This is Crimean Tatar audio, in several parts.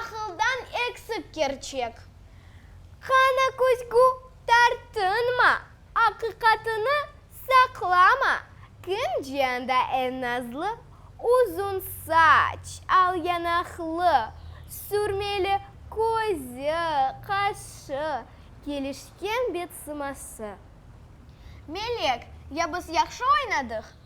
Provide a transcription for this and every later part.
Aqıldan eksik kerçek. Qana küzgü tartınma, aqiqatını saqlama, kim ciyanda en nazlı, uzun saç, al yanaqlı, sürmeli közü, qaşı, kelişken betsıması. Melek, ya biz yahşı oynadıq,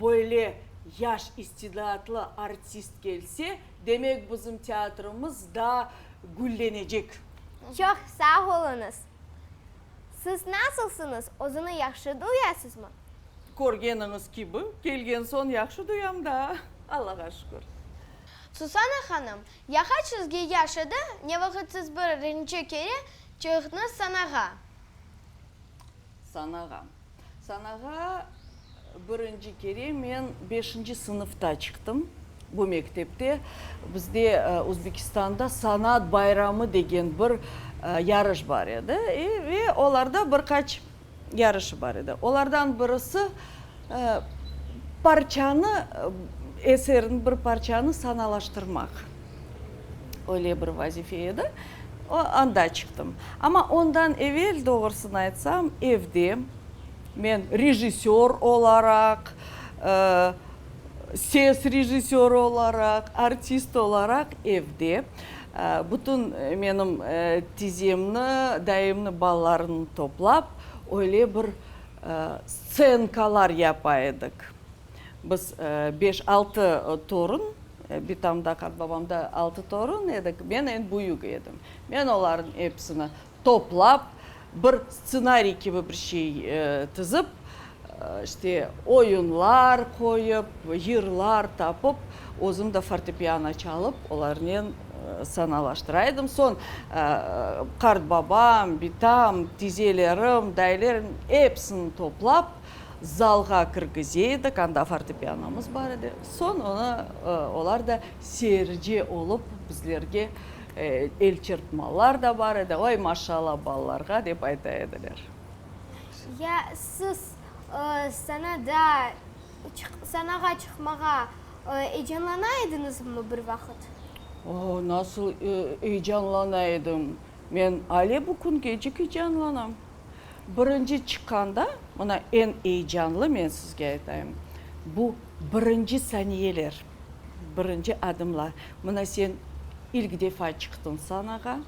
Böyle yaş istidaatlı artist kelse, demek bizim teatrımız daa güllenecek. Çoq sağ oluñız. Siz nasılsıñız, özüñi yahşı duyasızmı? Körgeniñiz kibi, kelgen soñ yahşı duyam daa, Allağa şükür. Susana hanım, yaha çizgi yaş edi, ne vaqıt siz bir rinci kere çıqtıñız sanağa? Sanağa. Sanağa birinci kere men beşinci sınıfta çıqtım. Bu mektepte bizde Özbekistanda Sanat bayramı degen bir yarış bar edi. Ve olarda bir qaç yarışı bar edi. Olardan birisi, Parçanı, eserin bir parçanı sanalaştırmaq, öyle bir vazife edi. Anda çıqtım. Amma ondan evel, doğrusını aytsam, evde men rejissör olaraq, ses rejissörı olaraq, artist olaraq evde bütün menim tizemni, dayımnı, balalarımnı toplap, öyle bir Stsenkalar yapa edik. Biz beş-altı torun, bitamda, qartbabamda altı torun edik, men eñ büyük edim. Men olarnıñ episini toplap, bir stsenariy kibi bir şey tizip, işte, oyunlar qoyıp, yırlar tapıp, özüm de fortepiano çalıp, olarnen Sanalaştıra edim. Soñ qartbabam, bitam, tizelerim, dayılerim, episini toplap, zalğa kirgize edik, anda fortepianomız bar edi. Soñ onı olar da seyirci olıp bizlerge el çırpmalar da bar edi, Voy, maşalla balalarğa! dep ayta ediler. Ya siz sanağa çıqmağa Eyecanlana ediñizmi bir vaqıt? O, nasıl eyecanlana edim! Men ale bu küngecik eyecanlanam. Birinci çıqqanda, mına eñ eyecanlı, men sizge aytayım, bu birinci saniyeler, birinci adımlar. Mına sen ilk defa çıqtıñ sanağa.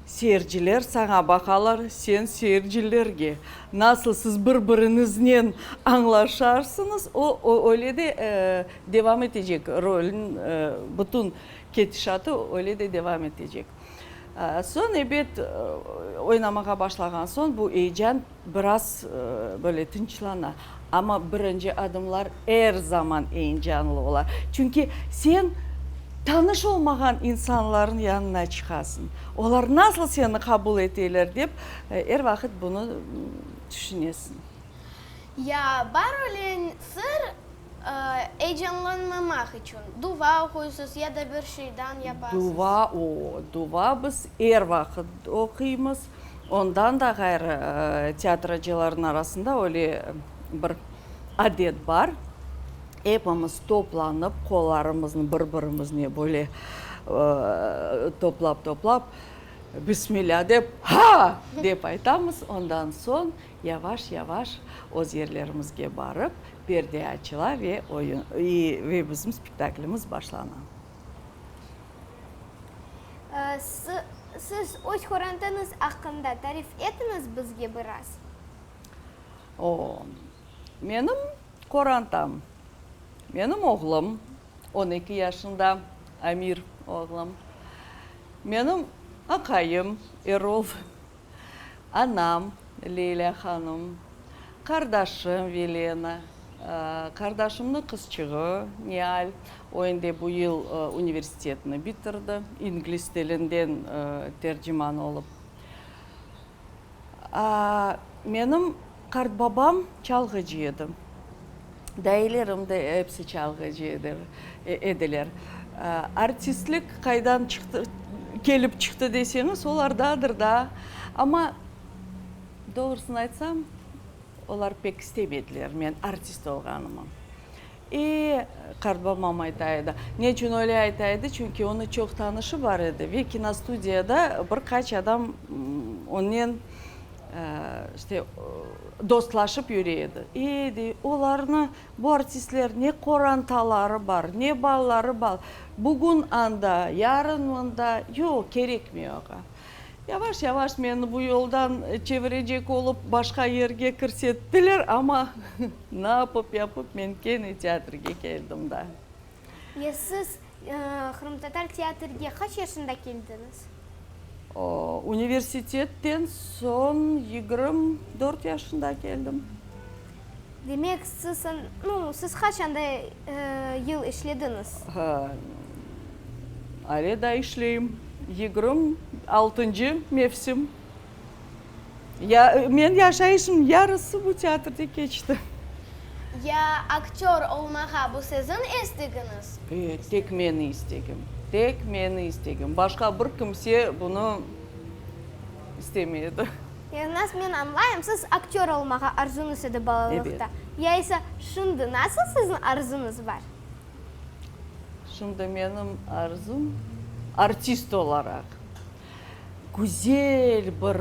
Seyirciler saña baqalar, sen seyircilerge. Nasıl siz bir-biriñiznen añlaşarsıñız, o öyle de devam etecek, rolniñ bütün ketişatı öyle de devam etecek. Soñ, ebet, oynamağa başlağan soñ bu eyecan Biraz böyle tınçlana. Amma birinci adımlar er zaman eyncanlı ola. Çünki sen tanış olmağan insanlarnıñ yanına çıqasıñ. Olar nasıl seni qabul eteler dep, er vaqıt bunı tüşünesiñ. Ya, bar öyle sır, Eyecanlanmamaq içün duva oquysız ya da bir şeydan yapasız? Duva, oo, duva biz er vaqıt oquymız. Ondan da ğayrı, tiyatracılarnıñ arasında öyle bir adet bar, epimiz toplanıp, qollarımıznı bir-birimizne böyle toplap-toplap, Bismilâ dep, Ha! dep aytamız. Ondan soñ Yavaş-yavaş öz yerlerimizge barıp, perde açıla ve oyun, ve bizim spektaklimiz başlana. Siz öz körüntüniz aqqında tarif etiñiz bizge biraz. O, menim körüntim, menim oğlum, on eki yaşında, Amir oğlum, menim aqayım, Erol. anam Leyla hanım, qardaşım Velena, qardaşımnıñ qızçığı Nial, o endi bu yıl universitetni bitirdi, ingliz tilinden terciman olıp, menim. Qartbabam çalğıcı edi. Dailerim de epsi çalğıcı ediler. Artistlik qaydan çıqtı, kelip çıqtı deseñiz, olardadır da. Amma, doğrusını aytsam, olar pek istemediler men artist olğanımı. E, qartbabam ayta edi. Ne içün öyle ayta edi? Çünki onı çoq tanışı bar edi ve kinostudiyada bir qaç adam onnen İşte, dostlaşıp yüre edi. E, dey, olarnı, bu artistler, ne qorantaları bar, ne balları bar, bugün anda, yarın mında, yoq, kerekmey oğa. Yavaş-yavaş meni bu yoldan çevirecek olıp, başqa yerge kirsettiler, amma, ne yapıp-yapıp, men kene teatrge keldim da. Ya siz qırımtatar teatrge qaç yaşında keldiñiz? Universitetten soñ yigirm dört yaşında keldim. Demek, siz, nu, siz qaçanda yıl işlediñiz? Ale daa işleyim. Yigirm altıncı mevsim. Ya, men yaşayışımnıñ yarısı bu teatrda keçti. Ya, aktör olmağa bu siziñ istegiñiz? E, tek meni istegim. Tek meni istegim. Başqa bir kimse bunı istemey edi. Ya, nasıl, men añlayım, siz aktör olmağa arzuñız edi balalıqta. Evet. Ya ise, şimdi nasıl siziñ arzuñız bar? Şimdi menim arzum, artist olaraq. Güzel bir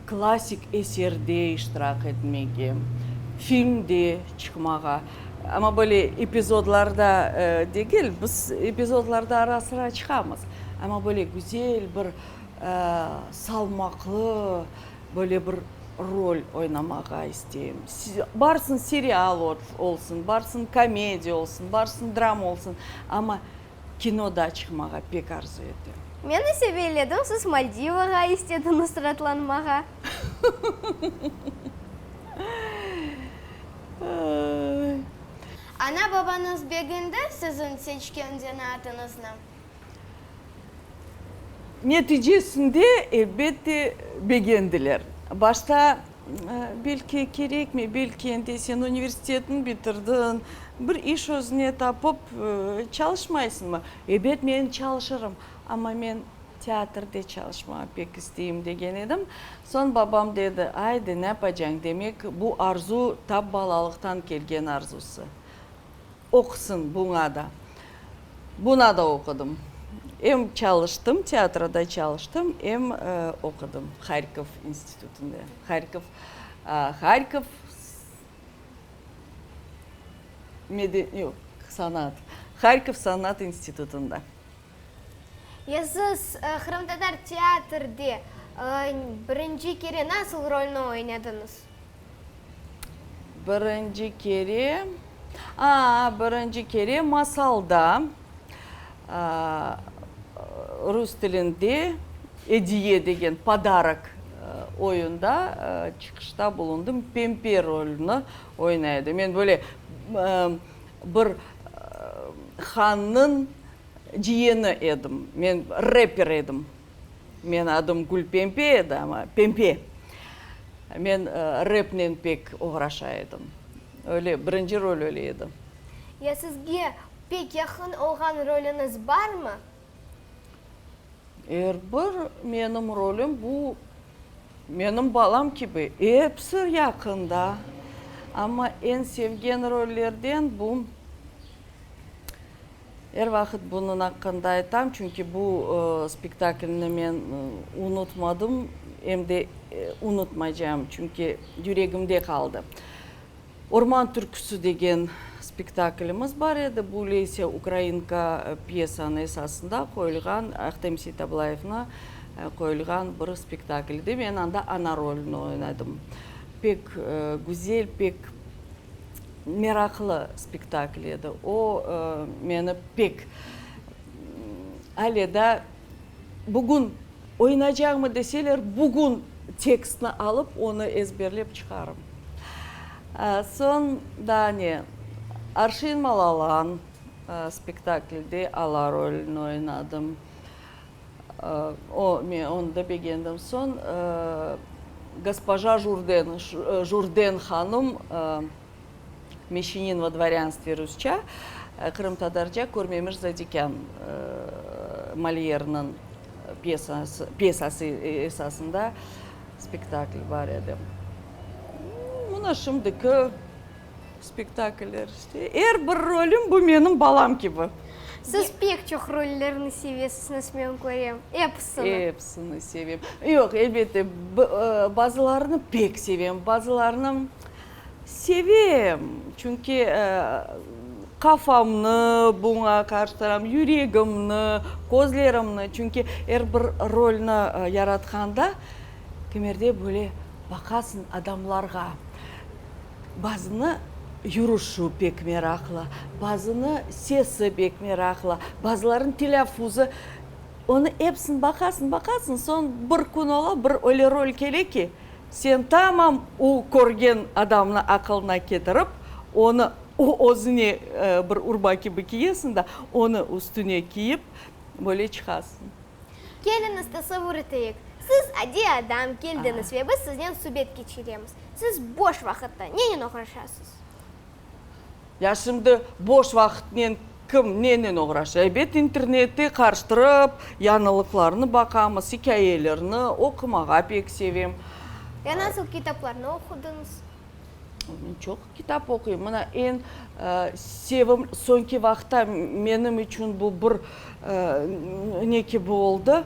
klassik eserde iştirak etmege, filmde çıqmağa, amma böyle epizodlarda degil, biz epizodlarda ara-sıra çıqamız, amma böyle güzel bir salmaqlı böyle bir rol oynamağa isteyim. Barsın serial olsun, barsın komediya olsun, barsın drama olsun, amma. Kinoda çıqmağa pek arzu etem. Men ise beyledim, siz Maldivağa istediñiz sıratlanmağa. Ana-babañız beğendi siziñ seçken zanaatıñıznı? Neticesinde, elbette, beğendiler. Başta Belki kerekmey, belki endi sen universitetni bitirdiñ, bir iş özüne tapıp çalışmaysıñmı? Ebet, men çalışırım, amma men teatrde çalışmağa pek isteyim, degen edim. Soñ babam dedi, aydı, ne yapacañ, demek, bu arzu tap balalıqtan kelgen arzusı. Oqısın buña da. Buna da oqudım. Em çalıştım, teatroda çalıştım, em oqudım Harkov institutında. Harkov, Harkov meden, yoq, sanat, Harkov sanat institutında. Eziz, qırımtatar teatrde birinci kere nasıl rolni oynadınız? Birinci kere, a, birinci kere masalda, rus tilinde Ediye degen, podarok, oyunda çıqışta bulundım, Pempe rolni oynay edim. Men böyle, Bir hannıñ ciyeni edim. Men reper edim. Meñ adım Gülpempe edi, amma Pempe. Men repnen pek oğraşa edim. Öyle, birinci rol öyle edi. Ya sizge pek yaqın olğan rolüñiz barmı? Er bir menim rolüm bu menim balam kibi, episi yaqında. Amma eñ sevgen rollerden bu, er vaqıt bunıñ aqqında aytam, çünki bu spektaklni men unutmadım, em de unutmaycam, çünki yüregimde qaldı. Orman türküsi degen spektaklimiz bar edi, bu Leysiya Ukrainka pyesanı esasında qoyulğan, Ahtem Seytablayevnı qoyulğan bir spektakl edi. Men anda ana rolüni oynadım. Pek güzel, pek meraqlı spektakl edi. O, meni pek, ale da bugün Oynaycağımı deseler, bugün tekstni alıp, onı ezberlep çıqarım. Soñ daa ne? Arşin Malalan spektaklde Ala rolüni oynadım. O, men onı da begendim. Soñ Gospoja Jurden, Jurden hanım, Meşinin vo dvorânstve, rusça, qırımtatarca, körmemiş zadikân, Molyerniñ pyesası esasında spektakl bar edi. Mına şimdiki spektakller işte. Er bir rolüm, bu menim balam kibi. Siz pek çoq rollerni sevesizniz, men körem. Episini. Episini sevem. Yoq, elbette, bazılarını pek sevem, bazılarını. Sevem, çünki qafamnı buña qarıştıram, yüregimni, közlerimni, çünki er bir rolni yaratqanda kimerde böyle baqasıñ adamlarğa, bazını yürüşü pek meraqlı, bazını sesi pek meraqlı, bazılarınıñ telâffuzu, onı epsini baqasıñ, baqasıñ, soñ bir kün ola, bir öyle rol kele ki, Sen tamam o körgen adamnı aqılına ketirip, onı özüne bir urba kibi kiyesiñ da, onı üstüne kiyip, böyle çıqasıñ. Keliñiz, tasavur eteyik, siz adiy adam keldiñiz ve biz siznen subet keçiremiz. Siz boş vaqıtta nennen oğraşasız? Ya şimdi boş vaqıtnen kim nenen oğraşa? Ebet interneti qarıştırıp, yañılıqlarnı baqamız, ikâyelerni oqumağa pek sevem. Ya nasıl kitaplarnı oqudıñız? Men çoq kitap oquyım. Mına eñ sevim, soñki vaqıtta menim içün bu bir Ne ki bu oldı,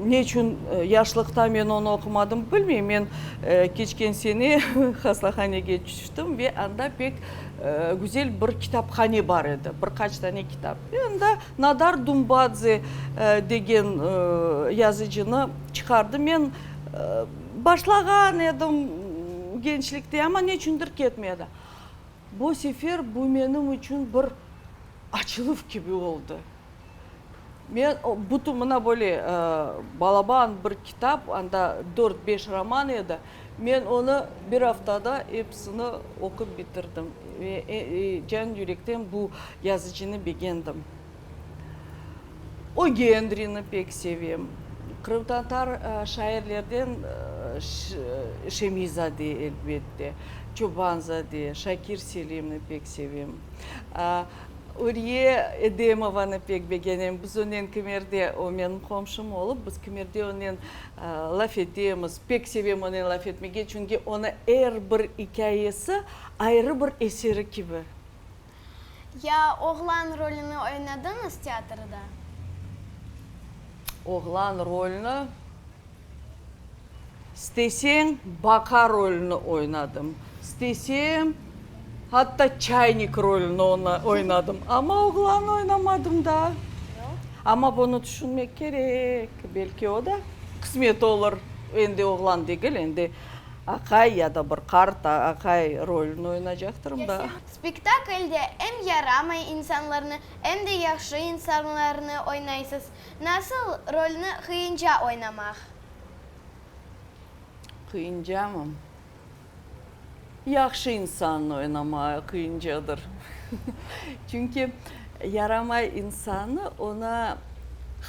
ne içün yaşlıqta men onı oqumadım, bilmeyim. Men keçken sene hastahanege tüştim ve anda pek güzel bir kitaphane bar edi, bir qaç tane kitap. Ve anda Nadar Dumbadze degen yazıcını çıqardım. Men başlağan edim gençlikte, amma ne içündir ketmedi. Bu sefer bu menim içün bir Açılıv kibi oldı. Men bütün mına böyle balaban bir kitap, anda dört-beş roman edi, men onı bir aftada episini oqup bitirdim. Ve can yürekten bu yazıcını begendim. O Gendrini pek sevem. Qırımtatar şairlerden Şemiyzade, elbette, Çobanzade, Şakir Selimni pek sevem. Uriye Edemovanı pek begenem. Biz onen Kimerde, o menim qomşum olıp, biz Kimerde onen laf etemiz. Pek sevem onen laf etmege, çünki onı er bir ikâyesi ayrı bir eseri kibi. Ya oğlan rolüni oynadıñız teatrda? Oğlan rolüni, isteseñ, baka rolüni oynadım, istesem, hatta çaynik rolüni oynadım, amma oğlanı oynamadım da. Amma bunı tüşünmek kerek, belki o da qısmet olur, endi oğlan degil, endi aqay ya da bir qart aqay rolüni oynaycaqtırım da. Spektaklde em yaramay insanlarnı, em de yahşı insanlarnı oynaysız. Nasıl rolni qıyınca oynamaq? Qıyıncamı? Yahşı insannı oynamağa qıyıncadır. Çünki yaramay insannı, ona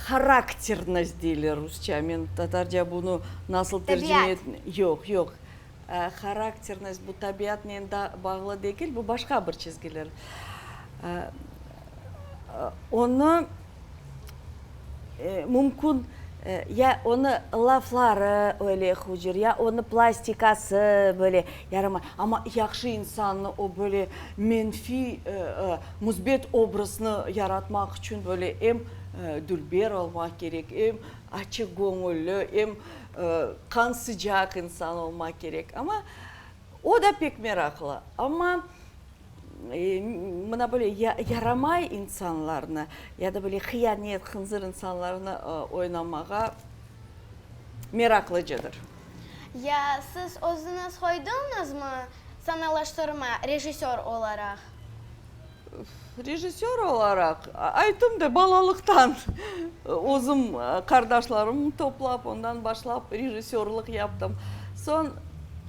harakternost deyler rusçamen, tatarca bunı nasıl tercime Təbiat. Yoq, yoq. Harakternost, bu tabiatnen bağlı degil, bu başqa bir çizgiler. Onı mümkün, ya onı lafları öyle hucur, ya onı plastikası böyle yaramay. Amma yahşı insannı o böyle menfiy, müsbet obrazını yaratmaq içün böyle em dülber olmaq kerek, em açıgöñülli, em. Qan sıcaq insan olmaq kerek. Amma o da pek meraqlı. Amma mına böyle yaramay insanlarnı, ya da böyle hıyanet, hınzır insanlarnı oynamağa meraqlıcıdır. Ya siz özüniz qoydıñızmı sanalaştırma rejissör olaraq? Rejissör olaraq, aytım da, balalıqtan özüm qardaşlarımnı toplap, ondan başlap rejissörlıq yaptım. Soñ,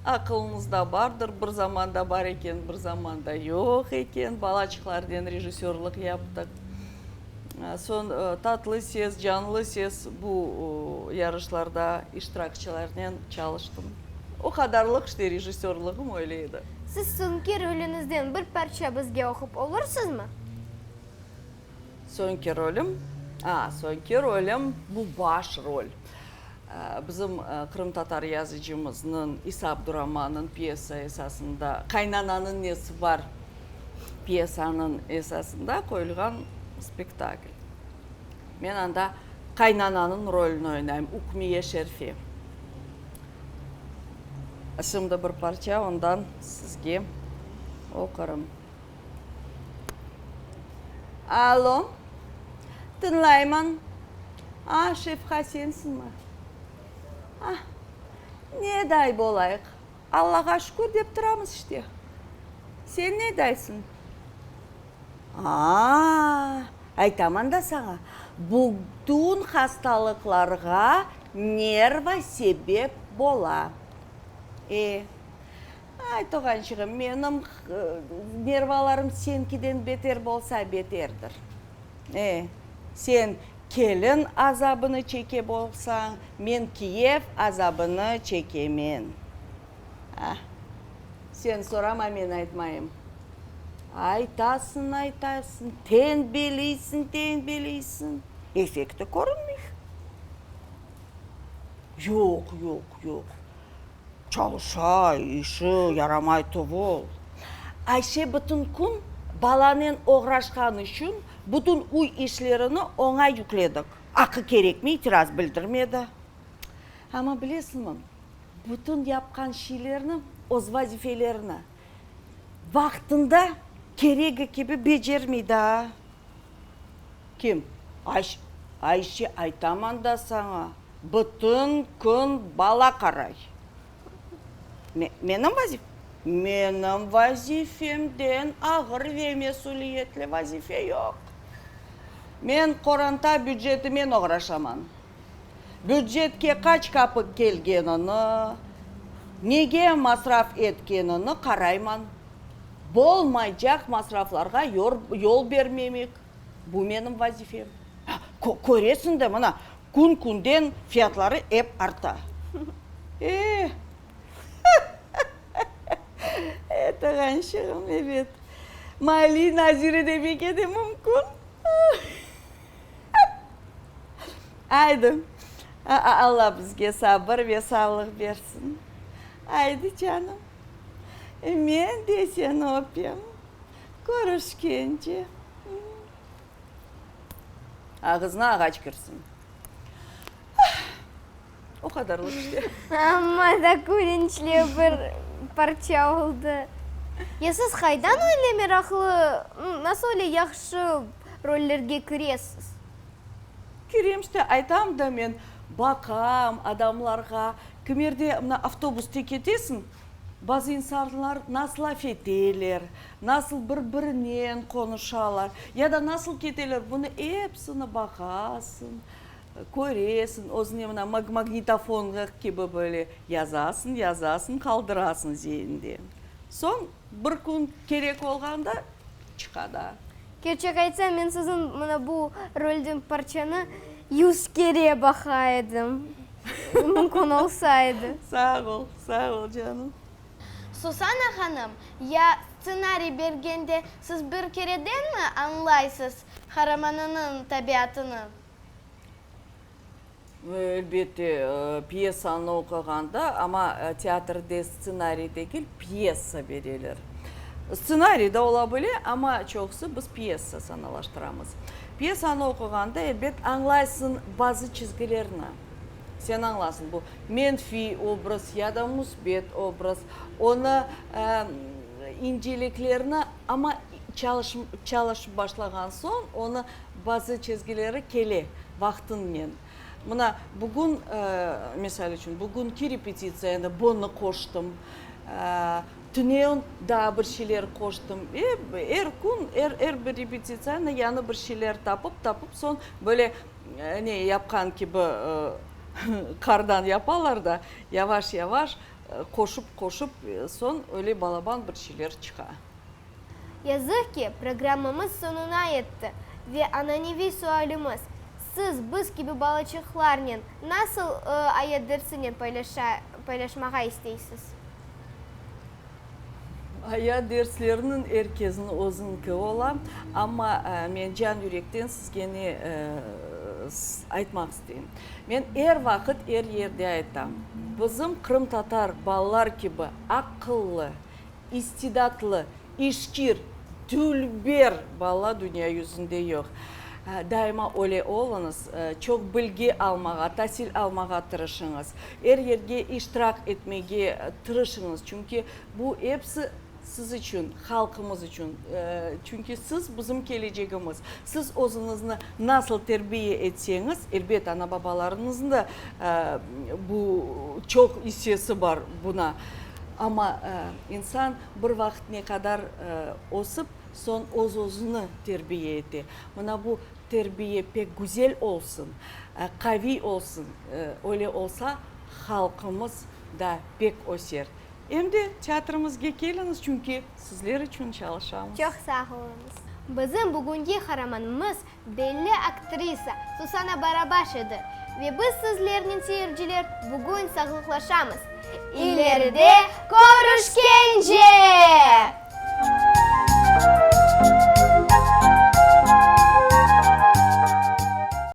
aqılınızda bardır, bir zamanda bar eken, bir zamanda yoq eken, balaçıqlarnen rejissörlıq yaptıq. Soñ, Tatlı ses, Canlı ses bu yarışlarda iştirakçilernen çalıştım. O qadarlıq işte rejissörlığım öyle edi. Siz soñki rolüñizden bir parça bizge oqup olursızmı? Soñki rolüm? A, soñki rolüm, bu baş rol. Bizim qırımtatar yazıcımıznıñ İsa Abduraman'nıñ pyesa esasında, Qaynananıñ nesi bar? pyesanıñ esasında qoyulğan spektakl. Men anda qaynananıñ rolüni oynayım, Ukmiye Şerfi. Şimdi bir parça ondan sizge oqurım. Alo, tıñlayman. A, Şefqa, sensiñmi? A, ne day bolayıq? Allağa şükür dep turamız işte. Sen ne daysın? Aa, aytaman da saña, bugtün hastalıqlarğa nerva sebep bola. E, ay, tuğançığım, menim nervalarım senkiden beter bolsa beterdir. E, sen kelin azabını çekep olsañ, men kiyev azabını çekemen. A, sen sorama, men aytmayım. Aytasıñ, aytasıñ, tenbeliysiñ, tenbeliysiñ, efekti körünmey. Yoq, yoq, yoq. Çalışa, işi yaramay tuvul. Ayşe bütün kün balanen oğraşqanı içün bütün üy işlerini oña yükledik. Aqı kerekmi, itiraz bildirmedi. Amma bilesiñmi, bütün yapqan şeylerni, öz vazifelerini vaqtında, keregi kibi becermey daa. Kim? Ayşe. Ayşe, aytaman da saña. Bütün kün bala qaray. Menim vazifem? Menim vazifemden ağır ve mesüliyetli vazife yoq. Men qoranta bücetimen oğraşaman. Bücetke qaç kapıq kelgenini, nege masraf etkenini qarayman. Bolmaycaq masraflarğa yol bermemik, bu menim vazifem. Köresiñ de, mına, Kün-künden fiyatları ep arta. E, e, tığançığım, ebet, maliye naziri de bek edi, mümkün. Aydı, Alla bizge sabır ve sağlıq bersin. Aydı, canım, men de seni öpem, körüşkence. Ağızına ağaç kirsin. O qadarlıq işte. Amma da külünçli bir parça oldı. Ya siz qaydan öyle meraqlı, nasıl öyle yahşı rollerge kiresiz? Kirem işte, aytam da men, baqam adamlarğa, kimerde mına avtobusda ketesiñ, Bazı insanlar nasıl laf eteler, nasıl bir-birinen qonuşalar ya da nasıl keteler, bunı epsini baqasıñ, köresiñ, özüne mına magnitofongı kibi böyle yazasıñ, yazasıñ, qaldırasıñ zeñinde. Soñ bir kün kerek olğanda çıqa da. Kerçek aytsam, men siziñ mına bu rolden parçanı yüz kere baqa edim, mümkün olsa edi. Sağ ol, sağ ol canım. Susana hanım, ya stsenariy bergende siz bir keredenmi añlaysız qaramanınıñ tabiatını? Elbette, pyesanı oqığanda, amma teatrde stsenariy degil, pyesa bereler. Stsenariy da ola bile, amma çoqusı biz pyesa sanalaştıramız. Pyesanı oqığanda, elbet, añlaysıñ bazı çizgilerni. Sen añlasıñ, bu menfiy obraz ya da müsbet obraz, onı inceliklerini, amma. Çalışıp başlağan soñ onı bazı çezgileri kele vaqtıñnen. Mına bugün, misal içün, bugünki repetitsiyaña bunı qoştım. Tüneun daa bir şeyler qoştım. Er kün, er bir repetitsiyaña yañı bir şeyler tapıp, tapıp soñ böyle ne yapqan kibi qardan yapalar da, yavaş-yavaş qoşıp, qoşıp soñ öyle balaban bir şeyler çıqa. Yazıq ki, programmamız soñuna yetti ve ananeviy sualimiz, Siz biz kibi balaçıqlarnen nasıl ayet dersini paylaşmağa isteysiz? Ayet dersleriniñ er kezin özüñki ola, amma men can yürekten sizge ne aytmaq isteyim. Men er vaqıt, er yerde aytam, bizim qırımtatar balalar kibi aqıllı, İstidatlı, işkir, dülber bala dünya yüzünde yoq. Daima öyle oluñız, çoq bilgi almağa, tasil almağa tırışıñız. Er yerge iştirak etmege tırışıñız, çünki bu episi siz içün, halqımız içün. Çünki siz, bizim kelecegimiz. Siz özüñizni nasıl terbiye etseñiz, elbet, ana-babalarıñıznıñ da çoq isesi bar buna. Amma insan bir vaqıt ne qadar ösip, soñ öz-özüni terbiye ete. Mına bu terbiye pek güzel olsun, qaviy olsun, öyle olsa, halqımız da pek öser. Em de teatrımızge keliñiz, çünki sizler içün çalışamız. Çoq sağ oluñız. Bizim bugünki qaramanımız Belli aktrisa Susana Barabaş edi. Ve biz sizlernen, seyirciler, bugün sağlıqlaşamız. İleride körüşkence!